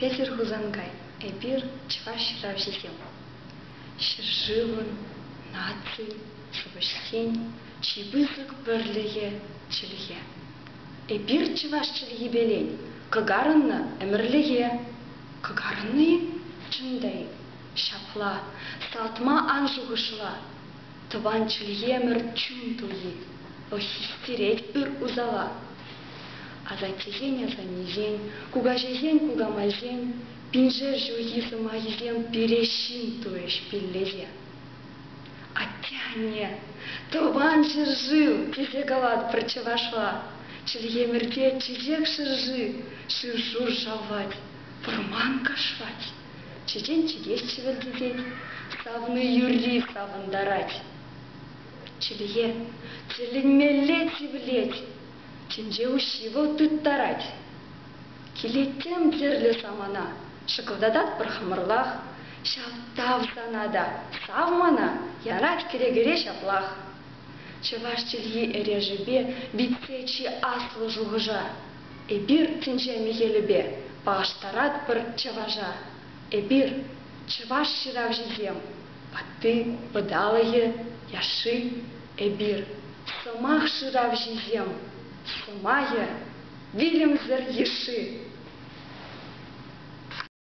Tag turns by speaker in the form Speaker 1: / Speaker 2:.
Speaker 1: Петӗр Хусанкай, эпир чӑваш ҫыравҫисем. Ҫӗршывӑн, нацин, шухӑшсен чи пысӑк пӗрлӗхӗ чӗлхе. Эпир чӑваш чӗлхипелен кӑкарӑннӑ ӗмӗрлӗхе. Кӑкарӑнни чӑн та-и? Ҫапла, салтма ан шухӑшла. Тӑван чӗлхемӗр чун туйит, вӑл хистерет ыр усала. Асаттесен асаннесен, кукаҫисен кукамайсен пиншер ҫулхи сӑмахӗсем пире ҫын турӗҫ пиллесе. Атте-анне, тӑван ҫӗршыв тесе калатпӑр чӑвашла. Чӗлхемӗрте чечек шӑрши шыв-шур шавлать, вӑрман кашвать. Чечен чӗтес чӗвӗлтетет, савни юрри савӑнтарать. Чӗлхе тӗлӗнмелле тивлет, тӗнче уҫҫи вӑл тыттарать. Килет тем тӗрлӗ самана, шӑкӑлтататпӑр хамӑрлах. Ҫав тав сана та, сав мана, янать кӗрекере ҫаплах. Чӑваш чӗлхи эрешӗпе витсе чи аслӑ шухӑша. Эпир тӗнче мехелӗпе паллаштаратпӑр чӑваша. Эпир, чӑваш ҫыравҫисем, ватти, ыталӑхӗ, яшши. Эпир, сӑмах шыравҫисем, сӑмахӗ, вилӗмсӗр йышши.